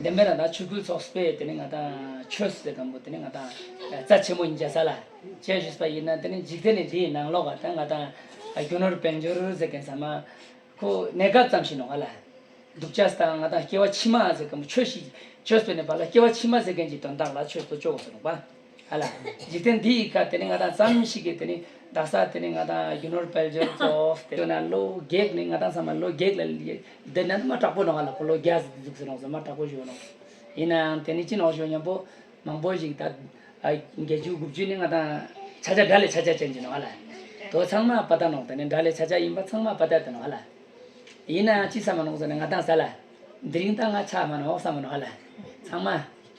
འདི་མེད་ན་ད་ཆོས་གོས་ཚོགས་པས་དེ་ནི་ང་དང་ཆོས་ཟེར་དང་པོ་དེ་ནི་ང་དང་རྩ་ཆེན་པོ་ཡིན་བྱ་ས་ལ་བྱས་ཞུས་པ་ཡིན་ན་དེ་ནི་འཇིག་རྟེན་ནི་འདིའི་ནང་ལོག་དང་ང་དང་རྒྱུ་ནོར་དཔལ་འབྱོར་ཟེར་མཁན་ཟ་མ་ཁོ་གནས་སྐབས་ཙམ་ཞིག་ནོར་བ་ལ་འདུག་བྱ་ས་དང་ང་དང་སྐྱེ་བ་ཕྱི་མ་ཟེར་མཁན་པོ་ཆོས་ཤིག་ཆོས་ཟེར་ནས་བར་ལ་སྐྱེ་བ་ཕྱི་མ་ཟེར་མཁན་གྱི་དོན་དག་ལ་ཆོས་སོ་ཅོག་གོ་ས་ནོར་བ། ཨ་ལ། འཇིག་རྟེན་འདི་ཡི་སྐབས་དེ་ནི་ང་དང་ཙམ་ཞིག་གིས་དེ་ནི་བདག་ས་དེ་ནི་ང་དང་རྒྱུ་ནོར་དཔལ་འབྱོར་གཙོ་བོ་སྟེ། ཡང་ན་བློ་བགེགས་ནི་ང་དང་ཙམ་མ་བློ་བགེགས་ལ་འདི་ན་མ་དྲག་པོ་ནོ་ཨ་ལ་ཁོ་ལོ་བརྒྱ་ཟུག་ཟེར་ནོག་ཟེར་མ་དྲག་པོ་བཞོན་ནོ། ཡིན་ནའང་དེ་ནི་ཅི་ནོག་བཞོན་སྙམ་པོ། མང་པོ་ཞིག་ད། བརྒྱད་ཅུ་དགུ་བཅུ་ནི་ང་དང། ཆ་ཆ་དགྲ་ལས་ཆ་ཆ་ཅན་གྱི་ནོ་ཨ་ལ། དོ་ཚང་མ་པ་ད་ནོག་དེ་ནི་དགྲ་ལས་ཆ་ཆ་ཡིན་པ་ཚང་མ་པ་ད་དེ་ནོ་ཨ་ལ། ཡིན་ནའང་ཅི་ས་མ་ནོག་ཟེར་ན་ང་དང་ས་ལ། འདི་རིང་ད་ང་ཆ་མ་ནོག་ས་མ་ནོ་ཨ་ལ། ཚང་མ།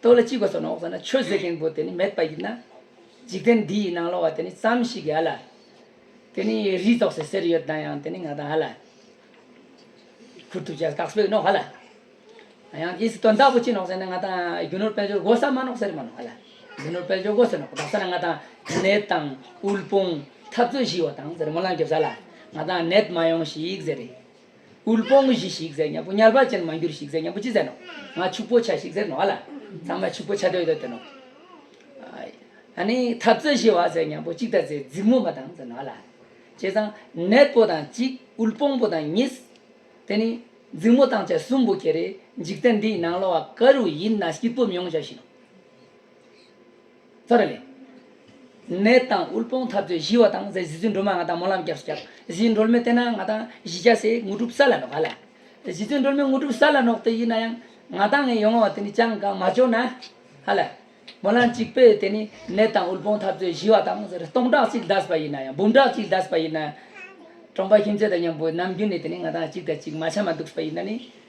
རྡོ་ལ་ཅི་གོ་སོགས་ནི་འོག་ས་ན་ཆོས་ཟེར་མཁན་པོ་དེ་ནི་མེད་པ་ཡིན་ན། འཇིག་རྟེན་འདི་ཡི་ནང་ལོགས་བ་དེ་ནི་ཙམ་ཞིག་གི་ཨ་ལ། དེ་ནི་རིས་རྫོགས་སའི་ཟེར་ཡོད་དང་ཡང་དེ་ནི་ང་དང་ཨ་ལ། ཁུར་ཐུབ་བྱས་སྟག་སྤོས་ནོག་ཨ་ལ། ཡང་དེ་སི་དོན་དག་པོ་ཅི་ནོག་ཟེར་ན་ང་དང་རྒྱུ་ནོར་དཔལ་འབྱོར་སྒོ་ས་མ་ནོག་ཟེར་མ་ནོག་ཨ་ལ། རྒྱུ་ནོར་དཔལ་འབྱོར་སྒོ་ཟེར་ནོག་གདགས་ས་ན་ང་དང་ནད་དང་དབུལ་ཕོངས་འཐབ་རྩོད་ཞི་བ་དང་ཟེར་མོ་ལང་རྒྱབ་ས་ལ་ང་དང་ནད་མ་ཡོང་ཞིག་ཟེར་རེད། དབུལ་པོ་ངུ་བཞིན་ཞིག་ཟེར་སྙམ་པོ་དམྱལ་བ་ཅན་མ་འགྱུར་ཞིག་ཟེར་སྙམ་པོ་ཅི་ཟེར་ནོ། ང་ཕྱུག་པོ་བྱ་ཞིག་ཟེར་ནོ་ཨ་ལ། ཚང་མ་ཕྱུག་པོ་བྱ་འདོད་ཡོད་དོ་ནོ། ཨ་ནི་འཐབ་རྩོད་བྱེད་བ་ཟེར་སྙམ་པོ་ཅིག་ད་ཟེར་རྫིག་མོ་མ་དང་ཟེར་ནོ་ཨ་ལ། བྱས་ཙང་ནད་པོ་དང་གཅིག་དབུལ་པོང་པོ་དང་གཉིས། དེ་ནི་རྫིག་མོ་དང་བཅས་གསུམ་པོ་ཁྱེད་རེ་འཇིག་རྟེན་འདིའི་ནང་ལོ་བ་ག་རུ་ཡིན་ན་སྐྱིད་པོ་མྱོང་བྱ་བཞིན་ནོ། ཙཱ་ར་ལས། ནད་དང་དབུལ་སྤོང་འཐབ་རྩོད་ཞི་བ་དང་ཟས་བཟི་ཚུལ་འགྲོལ་མ་ང་དང་སྨོན་ལམ་སྐྱབས་སུ་སྐྱབས། བཟི་འགྲོལ་མེད་བསྟེན་ན་ང་དང་བཞི་བརྒྱ་ཟས་དངོས་གྲུབ་ས་ལ་ནོག་ག་ལ། བཟི་ཚུལ་འགྲོལ་མེད་དངོས་གྲུབ་ས་ལ་ནོག་དེ་ཡིན་ན་ཡང། ང་དང་ངའི་ཡོང་བ་བ་དེ་ནི་ཅང་གང་མ་འབྱོར་ན། ཧ་ལ། སྨོན་ལམ་གཅིག་པོས་དེ་ནི་ནད་དང་དབུལ་སྤོང་འཐབ་རྩོད་ཞི་བ་དང་ཟེར་སྟོང་ཕྲག་གཅིག་བཟླས་པ་ཡིན་ན་ཡང་འབུམ་ཕྲག་གཅིག་བཟླས་པ་ཡིན་ན། གྲོང་པ་ཁྱིམ་མཚེས་དང་མཉམ་པོས་ནམ་རྒྱུན་ནས་དེ་ནི་ང་དང་གཅིག་དང་གཅིག་མ་ཆ་མ་འདུག་པ་ཡིན་ན་ནི།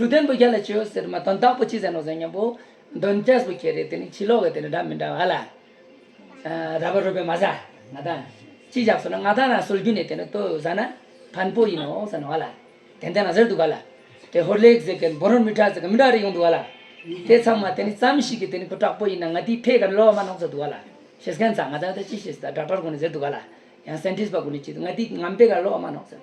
དྲུག་ལྡན་པོ་བརྒྱ་ལ་བཅོལ་ཟེར་མ་དོན་དག་པོ་ཅི་ཟེར་ནོ་ཟེར་སྙམ་པོ། འདོན་སྐྱས་པོ་ཁྱེད་རེད་དེ་ནི་ཕྱི་ལོག་གི་དེ་ནི་འདྲ་མི་འདྲ་བ་ལ། ར་བ་རུ་བའི་མ་ཟ། ང་ད། ཅི་བཞག་སོ་ན་ང་ད་ན་སོལ་རྒྱུ་ནི་དེ་ནི་ལྟོས་ཟ་ན། ཕན་པོ་ཡིན་ནོ་ཟེར་ནོ་བ་ལ། དེ་འདི་ན་ཟེར་འདུག་ག་ལ། དེ་ཧོར་ལེགས་ཟེར་གི་འབོ་རོར་མི་དྲག་ཟེར་གི་མི་དྲག་རེ་ཡོང་འདུག་ག་ལ། དེ་ཚང་མ་དེ་ནི་ཙམ་ཞིག་གི་དེ་ནི་ཁོ་དྲག་པོ་ཡིན་ན་ང་དེའི་ཕས་ག་རེ་ལོག་མ་གནང་ས་འདུག་ག་ལ། ཤེས་མཁན་ཚང་ང་ད་ནི་ད་ཅི་ཤེས་སི་ད་སྒྲག་སྒྲག་དགོས་ནི་ཟེར་འདུག་ག་ལ། ཡང་སེན་ཏིས་པ་དགོས་ནི་ཅི་འདུག་ང་དེའི་ངམ་ཕས་ག་རེ་ལོག་མ་གནང་ཟེར།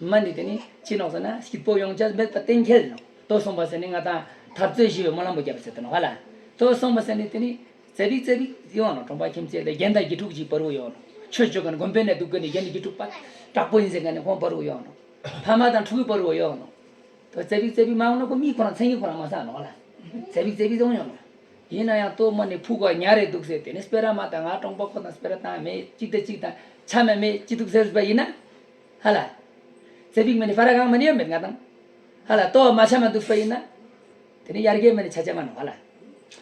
མ་ནི་དེ་ནི་ཅི་ནོག་ཟེར་ན་སྐྱིད་པོ་ཡོངས་ཀྱང་མེད་པར་གཏན་འཁེལ་ནོ། ལྟོ་བསྲུང་བ་ཟེར་ནི་ང་དང་འཐབ་རྩོད་བཞི་བའི་སྨོན་ལམ་པོ་བརྒྱ་པ་ཟེར་དོ་ནོ་ག་ལ། ལྟོ་བསྲུང་བ་ཟེར་ནི་དེ་ནི་རྩེ་རིག་རྩེ་རིག་ཡོད་ཨ་ནོ་གྲོང་པ་ཁྱིམ་བརྩེགས་ལས་རྒན་དང་དགེ་ཕྲུག་གཅིག་བར་བུ་ཡོད་ཨ་ནོ་ཆོས་སྤྱོད་མཁན་དགོན་པའི་ནས་སྡུག་གི་ནི་རྒན་དགེ་ཕྲུག་པ་དྲག་པོ་ཡིན་ཟེར་མཁན་ནི་ཁོང་བར་བུ་ཡོད་ཨ་ནོ་ཕ་མ་དང་ཕྲུ་གུའི་བར་བུ་ཡོད་ཨ་ནོ། ལྟོ་རྩེ་རིག་རྩེ་རིག་མ་ཡོང་ན་ཁོ་མིག་ཁོ་རང་མཚན་ཉིད་ཁོ་རང་མ་བཟང་ཨ་ནོ་ག་ལ། རྩེ་རིག་རྩེ་རིག་ཡོང་ཡོད་ནོ། ཡིན་ན་ཡང་ལྟོ་མ་ནི་ཕུག་ག་ཉག་རེད་འདུག་ཟེར་དེ་ནི་སྤེ་ར་མ་དང་ང་གྲོང་པ་ཁོ་དང་སྤེ་ར་དང་མེད་གཅིག་དང་གཅིག་དང་ཆ་མེད་མེད་གཅིག་འདུག་ཟེར་བ་ཡིན་ན། ཧ་ལ། ཚེ་འབིགས་མི་ནི་ཧྥ་ར་གང་མི་ནི་ཡོད་མེད་ང་དང། ཧ་ལ། ལྟོ་བ་མ་ཆ་མ་འདུག་ཕོ་ཡིན་ན། དེ་ནི་ཡར་རྒྱས་མི་ནི་ཆ་ཆ་མ་ནོ་ཧ་ལ།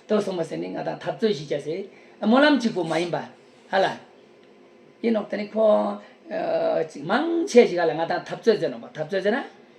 ལྟོ་སོང་མ་ཟེར་ནི་ང་དང་འཐབ་རྩོད་ཞིག་བྱ་ཟེར། སྨོན་ལམ་གཅིག་པོ་མ་ཡིན་པ། ཧ་ལ། ཡིན་ནོ། དེ་ནི་ཁོང། མང་ཆེ་ཞིག་ཧ་ལ་ང་དང་འཐབ་རྩོད་མཛད་ནོ་འཐབ་རྩོད་མཛད་ན།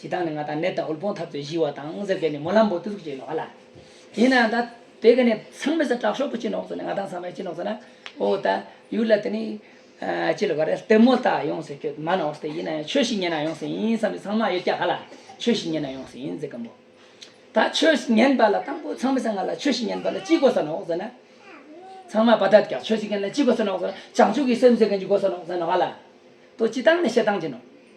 ཇི་ལྟར་ནི་ང་དང་ནད་དང་འུལ་བོང་ཐབ་ཚོས་གཞིལ་བ་དང་ཟེར་གྱི་ནི་མོ་ལྷམ་བོ་ཏུ་ཟུག་ཅིག་ལོག་ཨ་ལ། ཡིན་ནའང་ད། དེ་གི་ནི་ཚང་མི་ཟ་དྲག་ཤོག་པོ་ཅིག་ནོག་ཚོ་ནི་ང་དང་ཚང་མས་ཅི་ནོག་ཚོ་ན། ཨོ་ད། ཡུལ་ལ་དེ་ནི། ཅི་ལ་བ་རེད་ལྟད་མོ་ལྟ་ཡོང་ཟེར་ཁྱོད་མ་ནོག་ཏེ་ཡིན་ནའང་ཆོས་ཤིག་ཉན་ན་ཡོང་ཟེར་ཡིན་བསམ་ནི་ཚང་མ་ཡོད་སྐྱ་ག་ལ། ཆོས་ཤིག་ཉན་ན་ཡོང་ཟེར་ཡིན་ཟེར་གི་འབོ། ད་ཆོས་ཉན་པ་ལ་དང་པོ་ཚང་མི་ཟ་ང་ལ་ཆོས་ཤིག་ཉན་པ་ལ་ཅི་དགོས་ས་ནོག་ཟེར་ན། ཚང་མ་བ་ད་སྐྱ་ཆོས་ཤིག་ཉན་ན་ཅི་དགོས་ས་ནོག་ཟེར་ན་བྱང་ཆུབ་ཀྱི་སེམས་ཟེར་གི་ནི་དགོས་ས་ནོག་ཟེར་ནོག་ཨ་ལ། ཏོ་ཅི་སྟངས་ནི་བཤད་སྟངས་ཅི་ནོག།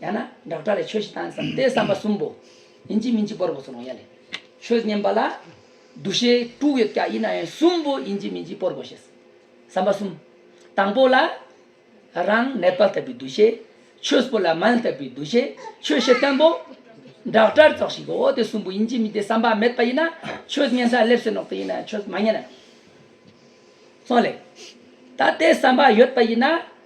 ཡང་ན་བསྒྲགས་གྲྭ་ལས་ཆོས་ཤིག་བཏང་བསམ་སྟེ་བསམ་པ་གསུམ་པོ། ཡིན་གཅིག་མིན་གཅིག་པོར་བོགས་སུ་ལོང་ཡ་ལེ། ཆོས་མཉན་པ་ལ། འདུ་ཤེས་དྲུག་ཡོད་ཀྱང་ཡིན་ན་ཡང་གསུམ་པོ་ཡིན་གཅིག་མིན་གཅིག་པོར་བོ་ཤེས། བསམ་པ་གསུམ། དང་པོ་ལ། རང་གནས་དཔལ་ལྟ་བུའི་འདུ་ཤེས། ཆོས་པོ་ལ་མལ་ལྟ་བུའི་འདུ་ཤེས། ཆོས་ཤེས་བརྟན་པོ། བསྒྲགས་གྲྭར་རྫོགས་ཤིག་གོ་དེ་གསུམ་པོ་ཡིན་གཅིག་མིན་གཅིག་བསམ་པ་མེད་པ་ཡིན་ན། ཆོས་མཉན་ས་སླེབས་སོན་ནོག་དེ་ཡིན་ན་ཡང་ཆོས་མ་མཉན་ན་ཡང། སོང་ལེ། ད་ལྟའི་བསམ་པ་ཡོད་པ་ཡིན་ན།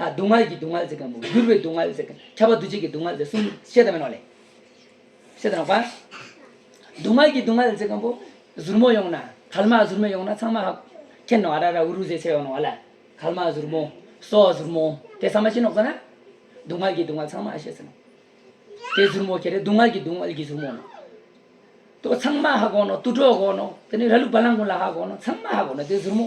སྡུག་བསྔལ་གྱི་སྡུག་བསྔལ་ཟེར་གྱི་འགྱུར་བའི་སྡུག་བསྔལ་ཟེར་ཁྱབ་པ་འདུ་བྱེད་ཀྱི་སྡུག་བསྔལ་ཟེར་གསུམ་བཤད་དང་མི་ནོར་ལེ། བཤད་དང་ནོར་བ། སྡུག་བསྔལ་གྱི་སྡུག་བསྔལ་ཟེར་གང་པོ། ཟུར་མོ་ཡོང་ན་དལ་མ་ཟུར་མོ་ཡོང་ན་ཚང་མ་ཧ། ཁྱེད་ནོར་ཨ་ར་ར་འུ་རུ་ཟེར་ཚད་ཡོང་ནོར་བ་ལ། དལ་མ་ཟུར་མོ། སོགས་ཟུར་མོ། དེ་ཚང་མ་ཤེས་ནོར་དགོས་ན། སྡུག་བསྔལ་གྱི་སྡུག་བསྔལ་ཚང་མ་ཤེས་ཟིན་ནོ། དེ་ཟུར་མོ་ཁྱེད་རེ་སྡུག་བསྔལ་གྱི་སྡུག་བསྔལ་གྱི་ཟུར་མོ་ནོ། དོ་ཚང་མ་ཧ་གོ་ནོ་ཏུ་གྲོགས་གོ་ནོ། དེ་ནི་ར་ལུག་བ་ལང་ཀུན་ལ་ཧ་གོ་ནོ་ཚང་མ་ཧ་གོ་ནོ་དེ་ཟུར་མོ།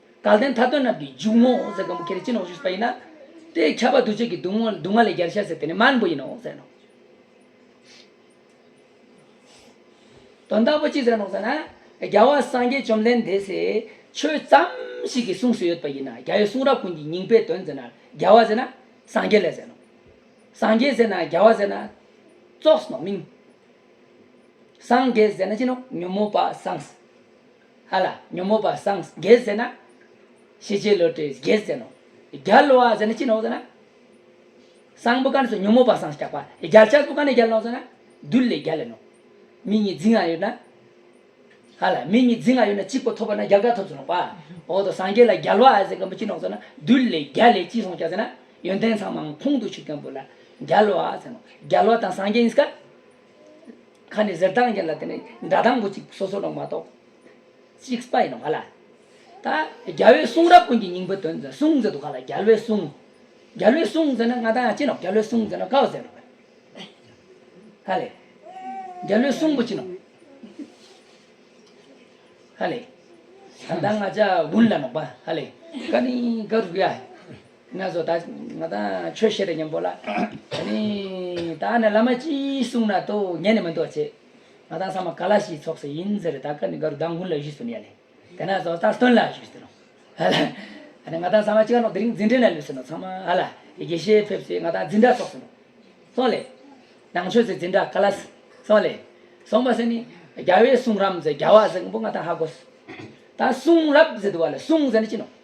དགའ་ལྡན་མཐའ་དོན་རྣམས་ཀྱི་འཇུག་ངོགས་འོག་ཟེར་གང་བུ་ཁྱེར་ནས་ཅི་ནང་བཞུགས་ཟེར་པ་ཡིན་ན། དེས་ཁྱབ་པ་འདུ་བྱེད་ཀྱི་སྡུག་བསྔལ་སྡུག་བསྔལ་ལས་རྒྱལ་བྱ་ཟེར་དེ་ནི་མར་འབུ་ཡིན་ནོ་ཟེར་ནོ། དོན་དམ་པོ་ཅི་ཟེར་ནོ་ཟེར་ན། རྒྱལ་བ་སངས་རྒྱས་བཅོམ་ལྡན་འདས་སའི་ཆོས་ཙམ་ཞིག་གིས་གསུངས་སུ་ཡོད་པ་ཡིན་ན་རྒྱལ་བའི་གསུང་རབ་ཀུན་གྱི་སྙིང་པའི་དོན་ཟེར་ན་རྒྱལ་བ་ཟེར་ན་སངས་རྒྱས་ལས་ཟེར་ནོ། སངས་རྒྱས་ཟེར་ན་རྒྱལ་བ་ཟེར་ན། རྩོགས་སོ་མིང། སངས་རྒྱས་ཟེར་ན་ཅི་ནོ་ཉོན་མོངས་པ་སངས། ཧ་ལ་ཉོན་མོངས་པ་སངས་རྒྱས་ཟེར་ན། ཤེས་བྱའི་བློ་གྲོས་རྒྱལ་ཟེར་ནོ། རྒྱལ་བ་ཟེར་ན་ཅི་ནོ་ཟེར་ན། སངས་པོ་གནས་སུ་ཉོན་མོངས་པ་སངས་རྒྱག་པ་རྒྱལ་བྱ་སྤུ་ག་ནས་རྒྱལ་ནོ་ཟེར་ན། རྡུལ་ལས་རྒྱལ་ལས་ནོ། མི་གཉིས་རྫིང་ཡང་ཡོད་ན། ཧ་ལ་མི་གཉིས་རྫིང་ཡང་ཡོད་ན་གཅིག་པོ་ཐོབ་པ་ན་རྒྱལ་དགའ་ཐོབ་ཟེར་ནོ། འོ་ད་སངས་རྒྱས་ལ་རྒྱལ་བ་ཟེར་མཁན་པོ་ཅི་ནོ་ཟེར་ན། རྡུལ་ལས་རྒྱལ་ལས་ཅི་སངས་རྒྱག་ཟེར་ན། ཡོན་ཏན་ཚང་མ་ཁོང་དུ་ཆུད་མཁན་པོ་ལ་རྒྱལ་བ་ཟེར་ནོ། རྒྱལ་བ་དང་སངས་རྒྱས་གཉིས་ཀ། ཁ་ནས་ཟེར་སྟངས་ཀྱི་ལ་དེ་ནི་འདྲ་དང་པོ་ཅིག་སོ་སོ་ནང་མ་གཏོགས། ཅིག་སྤ་ཡིན་ནོ་ག་ལ། ད་རྒྱལ་བའི་གསུང་རབ་ཀུན་གྱི་སྙིང་པོའི་དོན་ཟེར་གསུང་ཟེར་དུ་ག་ལ་རྒྱལ་བའི་གསུང། རྒྱལ་བའི་གསུང་ཟེར་ན་ང་དང་ཡང་གཅིག་ནོ་རྒྱལ་བའི་གསུང་ཟེར་ན་གའུ་ཟེར་ནོ། ཧ་ལས། རྒྱལ་བའི་གསུང་པོ་ཅིག་ནོ། ཧ་ལས། ད་ང་ཅག་དགུན་ལ་ནོག་པ་ཧ་ལས། ཀ་ནི་ཀ་རུ་ཡ། ན་བཟོ་ད་ང་ད་ཆོས་བཤད་དོ་སྙམ་པོ་ལ། ད་ནི་ད་ནི་བླ་མ་ཅི་གསུང་ན་དོ་ངས་ནི་མི་འདོགས་བྱས། ང་ད་ས་མ་ག་ལ་ཞིག་ཚོགས་སུ་ཡིན་ཟེར་ད་ཀ་ནི་ག་རུ་བདག་མགུར་ལ་བཞུད་སུ་ནི་ཡ་ལེ། དེ་ན་བཟོ་ད་སྟོན་ལ་བཞུད་ཟེར་རོ། ཧ་ལ། ད་ནི་ང་ད་ས་མ་ཅི་ག་ནོག་དེ་རིང་འཛིན་གྲྭའི་ན་ལུས་ཟེར་ནོ་ཚང་མ་ཧ་ལ་དགེ་བཤེས་ཕེབས་ཚེ་ང་ད་འཛིན་གྲྭ་ཚོགས་སུ་ནོ། སོང་ལེ། ནང་ཆོས་སུ་འཛིན་གྲྭ་ག་ལ། སོང་ལེ། སོང་པ་ཟེར་ནི། རྒྱལ་བའི་གསུང་རམ་ཟེར་རྒྱལ་བ་ཟེར་མགོན་པོ་ང་ད་ཧ་གོ་སོ། ད་གསུང་རབ་ཟེར་དུ་བ་ལ་གསུང་ཟེར་ནི་ཅི་ནོ།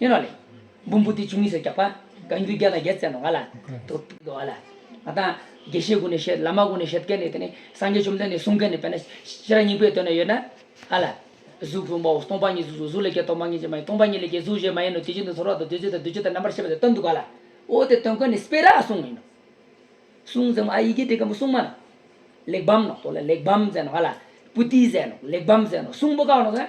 ཡོན་རོ་ལས། འབུམ་བུ་སྟེ་བཅུ་གཉིས་སུ་རྒྱག་པ། གང་རྒྱུད་བརྒྱ་དང་བརྒྱད་བརྩེགས་ནོ་ང་ལ། དུ། བ་ལ། ང་དང། དགེ་བཤེས་ཀུན་ནས་བཤད། བླ་མ་ཀུན་ནས་བཤད། བཀའི་ནི་དེ་ནི། སངས་རྒྱས་བཅོམ་ལྡན་ནས་གསུངས་བཀའི་ནི་དཔེ་ན། ཤེས་རབ་སྙིང་པོའི་དོན་ན་ཡོད་ན། ཨ་ལ། གཟུགས་བཟུང་བའོ། སྟོང་པ་ཉིད་གཟུགས་གཟུགས་ལས་སྐྱེ་སྟོང་པ་ཉིད་ཀྱིས་མ་ཡིན་སྟོང་པ་ཉིད་ལས་སྐྱེ་གཟུགས་གཞན་མ་ཡིན་ནོ་དེ་བཞིན་དུ་ཚོར་བ་དང་བདུད་རྩི་དང་བདུད་རྩི་དང་རྣམ་པར་ཤེས་པ་དེ་སྟོན་དུ་དགའ་ལ། འོ་དེ་སྟོན་ཀ་ནི་སྤེ་རག་གསུངས་ཡིན་ནོ། གསུངས་ཟེར་མོ་ཨ་ཡི་གེ་དེ་ཀ་མོ་གསུངས་མ་ནོ། གླེགས་བམ་ནོ་དོ་ལ་གླེགས་བམ་ཟེར་ནོ་ང་ལ། པུ་ཏི་ཟེར་ནོ་གླེགས་བམ་ཟེར་ནོ་གསུངས་པོ་ཀ་ནོ་ཟེར།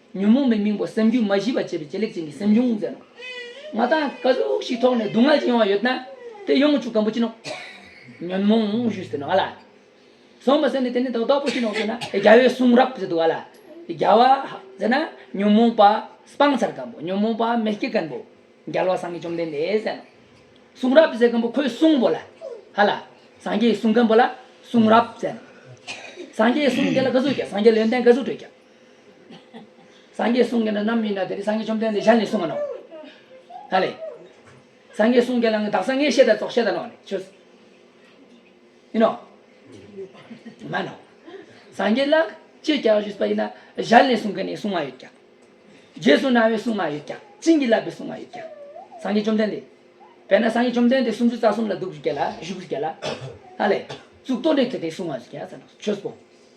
ཉོན་མོངས་པའི་སྙིང་པོ་སེམས་རྒྱུད་མ་ཞི་བར་བྱེད་པའི་ལྕེ་ལེགས་ཅན་གྱི་སེམས་བྱུང་མཛད་ནོ། མ་དག་དཀའ་ཟུག་ཞིག་ཐོགས་ནས་སྡུག་བསྔལ་ཅིག་ཡོང་བ་ཡོད་ན། དེ་ཡོང་བཅུག་དམ་པོ་བྱིན་ནོ། ཉོན་མོངས་བཞུས་ཟེར་ནོ་ཨ་ལ། སོང་བ་ཟེར་ནས་དེ་ནི་དག་དག་པོ་བྱིན་ནོ་ཟེར་ན། རྒྱལ་བའི་གསུང་རབ་ཟེར་འདུག་ཨ་ལ། རྒྱལ་བ། ཟེར་ན། ཉོན་མོངས་པ་སྤང་ཚར་སྐམ་པོ་ཉོན་མོངས་པ་མེ་སྐྱེས་སྐམ་པོ། རྒྱལ་བ་སངས་རྒྱས་བཅོམ་ལྡན་འདས་ཟེར་ནོ། གསུང་རབ་ཟེར་སྐམ་པོ་ཁོའི་གསུང་བོ་ལ། ཧ་ལ། སངས་རྒྱས་གསུང་སྐམ་པོ་ལ་གསུང་རབ་ཟེར་ནོ། སངས་རྒྱས་གསུང་དེ་ལ་དགའ་ཟུག་བྱ་སངས་རྒྱས་ལོན་ཏན་དགའ་ཟུག་སྤྲོད་བྱ། སངས་རྒྱས་གསུང་མཁན་ན་ནམ་མིན་ན་དེ་ནི་སངས་རྒྱས་བཅོམ་ལྡན་འདས་ཞལ་ནས་གསུང་བ་ནོ། ད་ལས། སངས་རྒྱས་གསུང་མཁན་ལ་ནི་བདག་སངས་རྒྱས་བཤད་དང་རྫོགས་བཤད་དང་ནོ། ཆོས། ཡིན་ནོ། མ་ནོ། སངས་རྒྱས་ལ་ཅེས་བྱ་བ་ཞུས་པ་ཡིན་ན་ཞལ་ནས་གསུང་མཁན་ནི་གསུང་མ་ཡོད་ཀྱང། རྗེས་སུ་གནང་བའི་གསུང་མ་ཡོད་ཀྱང་བྱིན་གྱིས་བརླབས་པའི་གསུང་མ་ཡོད་ཀྱང། སངས་རྒྱས་བཅོམ་ལྡན་འདས། དཔེར་ན་སངས་རྒྱས་བཅོམ་ལྡན་འདས་སུམ་ཅུ་རྩ་གསུམ་ལ་གདུགས་བཞུགས་བརྒྱད་ལ་བཞུགས་བརྒྱད་ལ། ད་ལས། གཙུག་ཏོར་འདི་དེ་སྟེ་གསུང་མ་ཡོད་ཀྱང། ཆོས་སྤོང།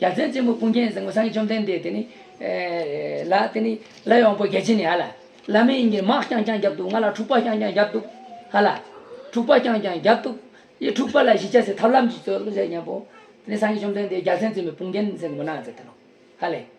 རྒྱ་མཚོའི་རྩེ་མོ་ཀུན་མཁྱེན་གཟིགས་མོ་སངས་རྒྱས་བཅོམ་ལྡན་འདས་དེ་ནི། ལ་དེ་ནི། བླ་ཡང་པོ་རྒྱལ་ཆེན་ནི་ཨ་ལ། བླ་མའི་དབྱིངས་ཀྱི་དམག་རྐྱང་རྐྱང་བརྒྱབ་འདུག་ང་ལ་འཁྲུག་པ་རྐྱང་རྐྱང་བརྒྱབ་འདུག་ཧ་ལ། འཁྲུག་པ་རྐྱང་རྐྱང་བརྒྱབ་འདུག། ཡི་འཁྲུག་པ་ལ་གཞི་བཅའ་སའི་ཐབས་ལམ་གྱིས་སྩོལ་བྱས་སྙམ་པོ། དེ་ནི་སངས་རྒྱས་བཅོམ་ལྡན་འདས་རྒྱལ་མཚན་རྩེ་མོ་ཀུན་མཁྱེན་གཟིགས་མོ་སྣང་མཛད་དེ་ནོ། ཧ་ལས།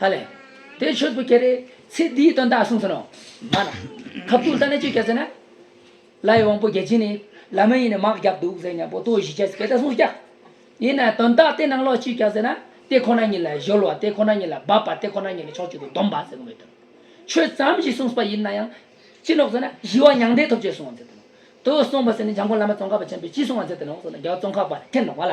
ཧ་ལས། དེ་ཆོས་སྐུ་ཁྱེད་རེད། ཚེ་འདིའི་དོན་དག་གསུངས་ཟིན་ནོ། མ་ན། ཁ་བཏུལ་ལྟ་ན་ཅོ་སྐྱ་ཟེར་ན། བླ་ཡི་དབང་པོ་རྒྱལ་ཆེན་ནི། བླ་མ་ཡིན་ནི་དམག་བརྒྱབ་འདུག་ཟེར་ནས་པོ་ཏོ་བཞི་ཆས་ཀྱི་ལྟ་སྲུང་སྐྱ། ཡིན་ནའི་དོན་དག་དེ་ནང་ལོགས་ཅོ་སྐྱ་ཟེར་ན། དེ་ཁོ་ན་ཉིད་ལ་གཞོལ་བ་དེ་ཁོ་ན་ཉིད་ལ་འབབ་པ་དེ་ཁོ་ན་ཉིད་ལ་ཕྱོགས་གཅིག་ཏུ་བསྡོམས་པ་ཟེར་ནོ་མོད་དོན་ཆོས་ཙམ་ཞིག་གསུངས་པ་ཡིན་ན་ཡང། ཅི་ལོག་ཟེར་ན་ཞི་བ་མྱང་འདས་ཐོབ་ཆོས་གསུངས་བ་མཛད་དོ། དོ་གསུངས་པ་ཟེར་ནས་འཇམ་མགོན་བླ་མ་ཙོང་ཁ་པ་ཆེན་པོས་ཅི་གསུངས་བ་མཛད་དོ་ལོག་ཟེར་ན་རྒྱལ་བ་ཙོང་ཁ་པ་ལ་ཐེ་ནོག་པ་ལ།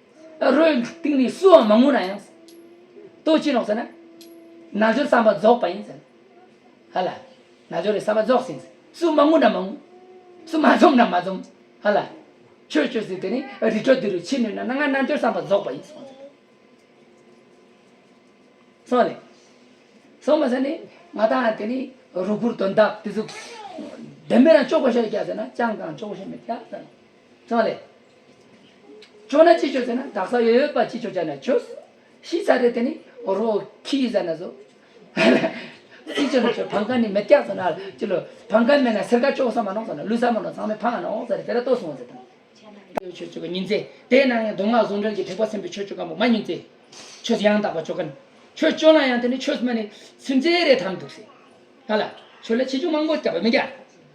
རོའི་སྟེང་ནས་སུའང་མ་ངུ་ན་ཡང། ལྟོ་ཅི་ལོག་ཟེར་ན། ན་སྦྱོར་བསམ་པ་རྫོགས་པ་ཡིན་ཟེར། ཧ་ལ། ན་སྦྱོར་བའི་བསམ་པ་རྫོགས་ཟིན། སུ་མ་ངུ་ན་མ་ངུ། སུ་མ་འཛོམ་ན་མ་འཛོམ། ཧ་ལ། ཆོས་སྤྱོད་ཟིན་དེ་ནི་རི་ཁྲོད་འདི་རུ་འཆི་ནུས་ན་ན་ང་ན་སྦྱོར་བསམ་པ་རྫོགས་པ་ཡིན་སོང་ཟེར། སོང་ནས། སོང་མ་ཟེར་ནས་ང་དང་དེ་ནི་རུ་གུར་དོན་དག་དེ་ཚོ། བདེན་པའི་རང་ཅོག་པོ་ཤ་རེ་བརྒྱག་ཟེར་ན་ཅང་གང་ཅོག་པོ་ཤ་མི་བརྒྱག་ཟེར། ཙང་ལས། ཅོ་ན་ཅི་ཆོས་ཟེར་ན་དག་ས་ཡོད་ཡོད་པ་ཅི་ཆོས་ཅ་ན་ཆོས། ཤི་ཚ་རེད་དེ་ནི་རོ་ཁི་ཟ་ན་ཟོ། ཅི་ཆོས་ན་ཆོས་བང་ཁ་ནི་མེ་སྐྱ་ཟ་ན་ཅི་ལོ། བང་ཁ་མེད་ན་སེར་ཁ་ཅོག་ས་མ་ནོག་ཟ་ན་ལུས་ས་མ་ནོག་ཚང་མས་ཕ་ང་ནོག་ཟ་རེད་དེ་ར་ལྟོས་སོང་ཟེར་དང། ཡོད་ཆོས་སྤྱོད་པ་ཉིན་མཚན་དེ་ན་ངས་མདོ་སྔགས་ཟུང་འབྲེལ་གྱི་ཐེག་པ་སེམས་པའི་ཆོས་སྤྱོད་ཀ་མོ་མ་ཉིན་མཚན། ཆོས་ཡང་དག་པ་སྤྱོད་ཀན། ཆོས་སྤྱོད་ན་ཡང་དེ་ནི་ཆོས་མ་ནི་སེམས་ཅན་རེ་དམ་འདུག་སེ། ཧ་ལ། ཆོས་ལ་ཆེ་ཆུང་མང་པོ་སྐྱབས་པ་མི་རྒྱ།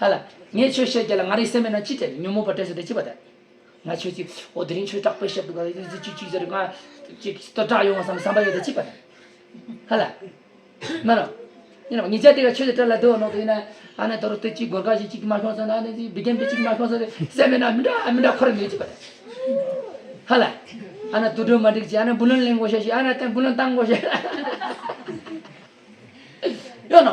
ལྷ་ལ། ངས་ཁྱོད་བཤད་རྒྱུ་ལ་ང་རའི་སེམས་མེད་ན་ཅི་བྱེད་ཉོན་མོངས་པ་སྐྲན་ཟེར་དེ་ཅི་བ་དེ། ང་ཁྱོད་ཀྱིས་ཨོ་དེ་རིང་ཁྱོད་སྐྲག་པས་བཤད་འདུག་ག་ཅིག་ཅིག་ཅིག་ཟེར་ང། ཅིག་ཅིག་སྐྲག་ཡོང་བ་བསམ་བསམ་པ་ཡོད་དེ་ཅི་བ་དེ། ལྷ་ལ། མ་རུང། ཡིན་ནམ་ངེད་ཅག་དེ་ག་ཁྱོད་ཀྱི་སྐྲ་ལ་སྡོད་ནོག་དེ་ཡིན་ན། ཨ་ནེ་དོ་རུ་སྟེ་ཅིག་སྒོར་ཁ་ཞིག་ཅིག་མ་ཤོང་ཟེར་ན་ཨ་ནེ་ཅིག་བི་རྒན་པས་ཅིག་མ་ཤོང་ཟེར་ཏེ་སེམས་མེད་ན་མི་འདྲ་མི་འདྲ་ཁོ་རེ་མེད་ཅི་བ་དེ། ལྷ་ལ། ཨ་ནེ་དུད་འགྲོ་མ་འགྲིག་ཅིག་ཨ་ནེ་བུ་ལོན་གླེང་དགོས་ཤེས་ཤིག་ཨ་ནེ་བུ་ལོན་བཏང་དགོས་ཤེས། ཡོད་ནོ།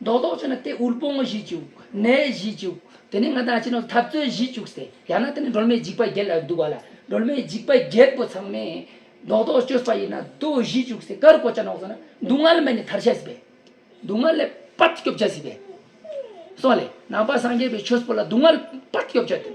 མདོག་མདོག་བྱས་ན་དེ་དབུལ་པོ་ངོ་བཞི་བཅུག། ནད་བཞི་བཅུག། དེ་ནས་ང་དང་ཁྱེད་རྣམས་འཐབ་རྩོད་བཞི་བཅུག་ཟེར། ཡང་ན་དེ་ནི་སྒྲོལ་མའི་འཇིགས་པ་བརྒྱད་ལ་འདུག་བ་ལ། སྒྲོལ་མའི་འཇིགས་པ་བརྒྱད་པོ་ཚང་མས། མདོག་མདོག་བཅོས་པ་ཡིན་ན་རྡོ་བཞི་བཅུག་ཟེར་ཀར་ཀོ་ཅག་ནོག་ཟེར་ན་སྡུག་བསྔལ་མེད་ནས་ཐར་བྱ་སྲིད་པས། སྡུག་བསྔལ་ལས་སྤར་སྐྱོབ་བྱ་སྲིད་པས། སོགས་ལས། ནང་པ་སངས་རྒྱས་པའི་ཆོས་སྤོ་ལ་སྡུག་བསྔལ་སྤར་སྐྱོབ་བྱ་སྟེ།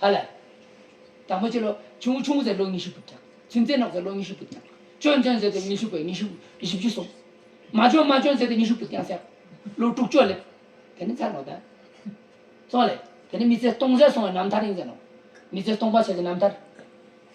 ཧ་ལ། དྲག་མོ་ཆེ་ལོ། ཆུང་ངུ་ཆུང་ངུ་ཟེར་ལོ་ཉི་ཤུ་བུད་ཀྱང། ཚུན་ཆད་ནག་ཟེར་ལོ་ཉི་ཤུ་བུད་ཀྱང། ཅོན་ཅོན་ཟེར་ཏེ་ཉི་ཤུ་བུད་ཉི་ཤུ་བཞི་བཅུ་གསུམ། མ་ཅོན་མ་ཅོན་ཟེར་ཏེ་ཉི་ཤུ་བུད་ཀྱང་ཟེར། ལོ་དྲུག་ཅུ་སླེབས། དེ་ནི་མཚན་ནོ། དོན་སོང་ལས། དེ་ནི་མི་ཚེ་སྟོང་ཟད་སོང་བའི་རྣམ་ཐར་ཡིན་ཟེར་ནོ། མི་ཚེ་སྟོང་པར་བྱས་ཏེ་རྣམ་ཐར།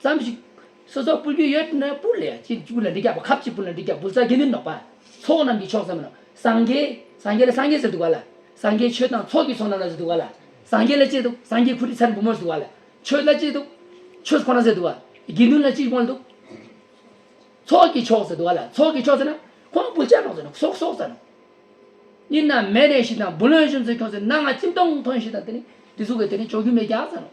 ཙམ་ཞིག། སོ་སོར་སྤུར་རྒྱུ་ཡོད་ན་སྤུར་ལ་ཡ། གཅིག་སྤུར་ལ་འབྲི་རྒྱག་པ་ཁབ་གཅིག་སྤུར་ལ་འབྲི་རྒྱག་འབུལ་ས་གྱ་ནོམ་ནོག་པ། ཚོགས་རྣམས་ཀྱི་ཕྱོགས་ཙམ་ན། སངས་རྒྱས། སངས་རྒྱས་ལ་སངས་རྒྱས་ཟེར་འདུག་ག་ལ། སངས་རྒྱས་ཆོས་དང་ཚོགས་ཀྱི་ཚོགས་རྣམས་ལ་ཟེར་འདུག་ག་ལ། སངས་རྒྱས་ལ་གཅིག་འདུག་སངས་རྒྱས་ཁུ་རི་ཚར་འབུམ་མོར་ཟེར་འདུག་ག་ལ། ཆོས་ལ་གཅིག་འདུག། ཆོས་ཁོ་ན་ཟེར་འདུག་ག། དགེ་འདུན་ལ་གཅིག་འབུལ་འདུག། ཚོགས་ཀྱི་ཕྱོགས་ཟེར་འདུག་ག་ལ་ཚོགས་ཀྱི་ཕྱོགས་ཟེར་ན། ཁོ་ན་འབུལ་བྱ་ནོག་ཟེར་ན་སོག་སོག་ཟེར་ནོག། གཉིས་ན་མེ་རེ་ཞིག་དང་འབུལ་ལོན་གཞུང་ཚོད་ཁྱོགས་ཟེར་ན་ང་ལྕིབས་སྟོང་ཐོན་ཞིག་དང་དེ་ནི་དེ་གཟུགས་ཀྱི་དེ་ནི་ཅོག་གུ་མེ་རྒྱག་ཟེར་ནོག།